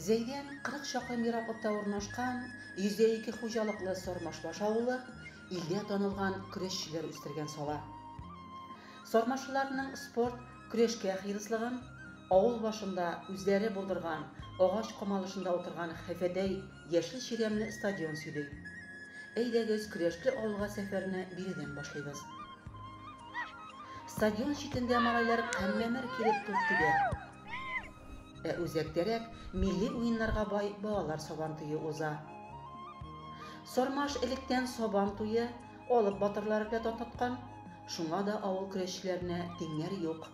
Зәйдән 40 чакрым ераклыкта урнашкан 102 хуҗалыклы Сормашбаш авылы илдә танылган көрәшчеләр үстергән сала. Сормашыларның спорт, көрәшкә хирыслыгын, авыл башында үзләре булдырган агач камалышында утырган хәфәтәй яшел чирәмле стадион сөйли. Әйдәгез, Көрәшле авылга сәфәрне биредән башлыйбыз. Стадион читендә малайлар каммәмер килеп туп тибә. Ә үзәктәрәк милли уеннарга бай балалар сабан туе уза. Сармаш электән сабан туе алып батырлары белән татныткан, шуңа да авыл көрәшчеләренә тиңнәр юк.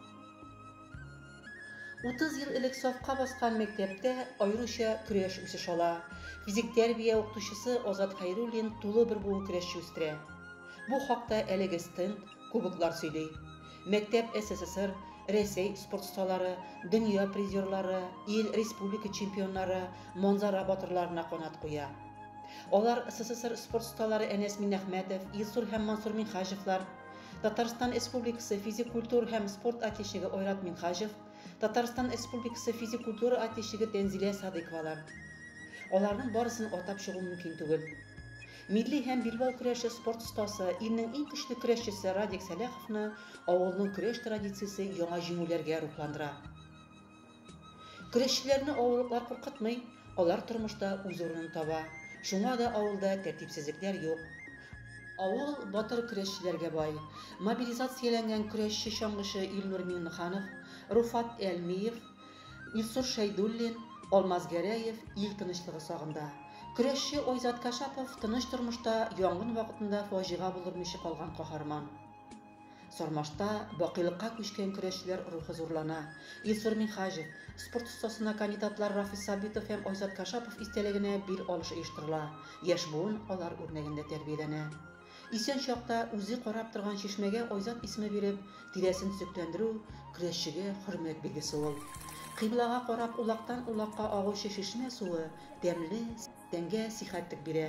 Утыз ел элек сафка баскан мәктәптә аеруча көрәш үсеш ала. Физик тәрбия укытучысы Азат Хәйруллин тулы бер буын көрәшче үстерә. Бу хакта әлеге стенд, кубоклар сөйли. Мәктәп СССР, Рәсәй спорт осталары, дөнья призерлары, ил, республика чемпионнары, манзара батырларына канат куя. Алар, СССР спорт осталары Әнәс Миннәхмәтов, Илсур һәм Мансур Минһаҗевлар, Татарстан Республикасы физик культура һәм спорт атечеге Ойрат Минхаҗев, Татарстан Республикасы физик культура атечеге Тәнзилә Садыйковалар. Аларның барысын атап чыгу мөмкин түгел. Милли һәм билбау көрәше спорт остасы, илнең иң көчле көрәшчесе Радик Сәләховны авылның көрәш традициясе яңа җиңүләргә рухландыра. Көрәшчеләрне авырлыклар куркытмый, алар тормышта үз урынын таба. Шуңа да авылда тәртипсезлекләр юк. Авыл батыр көрәшчеләргә бай. Мобилизацияләнгән көрәшче-чаңгычы Илнур Миңнеханов, Руфат Әлмиев, Илсур Шәйдуллин, Алмаз Гәрәев ил тынычлыгы сагында. Көрәшче Айзат Кашапов тыныч тормышта янгын вакытында фаҗига булдырмыйчы калган каһарман. Сармашта бакыйлыкка күчкән көрәшчеләр рухы зурлана. Илсур Минһаҗев, спорт остасына кандидатлар Рафис Сабитов һәм Айзат Кашапов истәлегенә бил алышы оештырыла, яшь буын алар үрнәгендә тәрбияләнә. Исән чакта үзе карап торган чишмәгә Айзат исеме биреп, тирәсен төзекләндерү, көрәшчегә хөрмәт билгесе ул. Кыйблага карап улактан-улакка агучы чишмә суы тәмле, тәнгә сихәтлек бирә.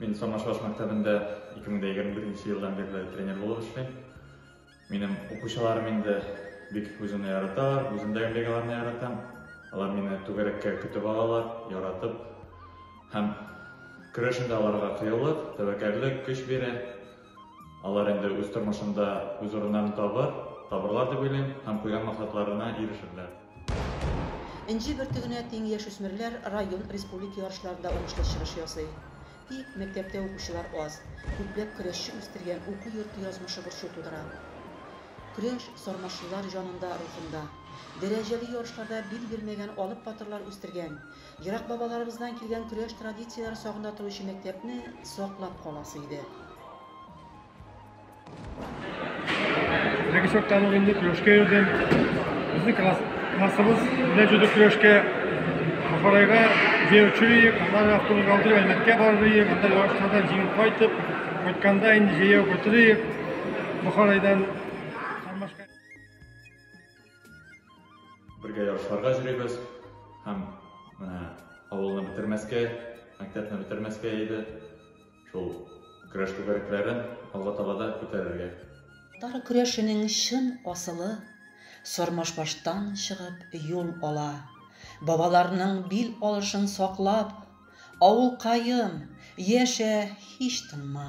Мин Самашаш мәктәбендә 2021 елдан бирле тренер булып эшлим. Минем укучыларым инде бик үземне яраталар, үземдәге бегаларны яратам. Алар мине түгәрәккә көтеп алалар, яратып. Һәм көрәшендә аларга кыюлык, тәвәккәллек, көч бирә. Алар инде үз тормышында үз урыннарын табыр, табырлар дип уйлыйм һәм куйган максатларына ирешерләр. Энҗе бөртегенә тиң яшүсмерләр район, республика ярышларында уңышлы чыгыш ясый. Тик мәктәптә укучылар аз. Күпләп көрәшче үстергән уку йорты язмышы борчу тудыра. Көрәш сарманчылар җанында, рухында. Дәрәҗәле ярышларда бил бирмәгән алып батырлар үстергән. Ерак бабаларыбыздан килгән көрәш традицияләре сагында торучы мәктәпне саклап каласы иде. Теге чакта ул инде көрәшкә йөрдем. Безнең класс, классыбыз белән җөдек көрәшкә Бухарайга җәяүче иек, аннары автобусга утырып Әлмәткә барыр иек, анда ярышлардан җиңеп кайтып, кайтканда инде җәяү кайтыр иек Бухарайдан. Бергә ярышларга җөрибез һәм менә авылны бетермәскә, мәктәпне бетермәскә иде. Шул көрәш түгәрәкләрен алга таба да күтәрергә. Татар көрәшенең чын асылы Сормашбаштан чыгып юл ала. Бабаларның бил алышын саклап, авылкаем, яшә, һич тынма!